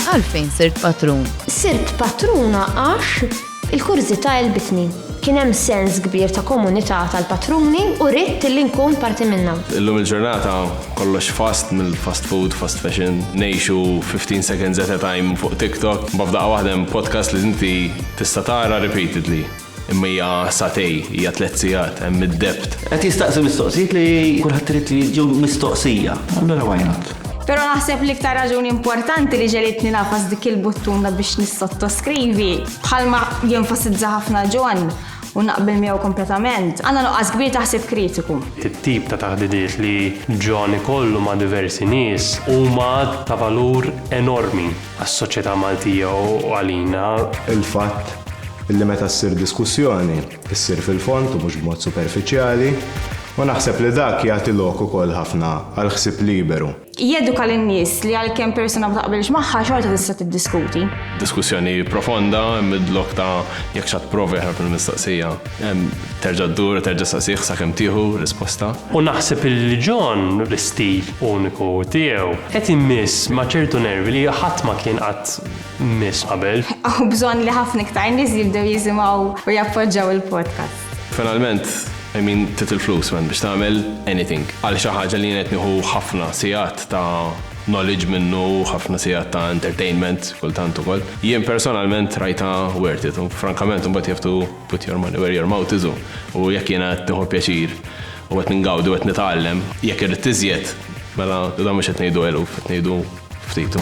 Għalfejn sirt patrun? Sirt patruna għax il-kurżità elbitni. Kien hemm sens kbir ta' komunità tal-patruni u ridt li nkun parti minnha. Illum il-ġurnata kollox fast mill-fast food, fast fashion, ngħixu 15 seconds at a time fuq TikTok, imma f'daqqa waħda hemm podcast li inti tista' tara repeatedly. Imma hija satej, hija tliet sigħat, hemm id-debt. Qed jistaqsi mistoqsijiet li kulħadd irid li jiġu mistoqsija. Allura why not? Pero naħseb li iktar raġuni importanti li ġelitni nafas dik il-buttuna biex nissottoskrivi, bħalma jenfasizza ħafna John u naqbel miegħu kompletament, għandna nuqqas kbir taħsib kritiku. It-tip ta' taħdidiet li John ikollu ma' diversi nies huma ta' valur enormi. għas-soċjetà Maltija u għalina. Il-fatt li meta ssir diskussjoni, issir fil-fond u mhux b'mod superfiċjali, u naħseb li dak jagħti lok ukoll ħafna għal ħsieb liberu. Jeduka lin-nies li għalkemm persuna ma taqbilx magħha xorta tista' tiddiskuti. Diskussjoni profonda, mid-lok ta' jekk x'għad tipprova jaħrab mill-mistoqsija, terġa' ddur u terġa' ssaqsih sakemm tieħu risposta. U naħseb li John l-istil uniku tiegħu. Qed immiss ma' ċertu nervi li ħadd ma kien qatt miss qabel. Hawn bżonn li ħafna iktar nies jibdew jisimgħu u jappoġġaw il-podcast. Finalment, I mean, trid il-flus, man, biex tagħmel anything. Għal xi ħaġa li jien qed nieħu ħafna sigħat ta' knowledge minnu, ħafna sigħat ta' entertainment kultant ukoll. Jien personalment rajtha worth it u frankament imbagħad you have to Put your money where your mouth is u jekk jiena qed nieħu pjaċir u qed ngawdi u qed nitgħallem, jekk irrid iżjed, mela dan mhux qed ngħidu eluf, qed ngħidu ftit.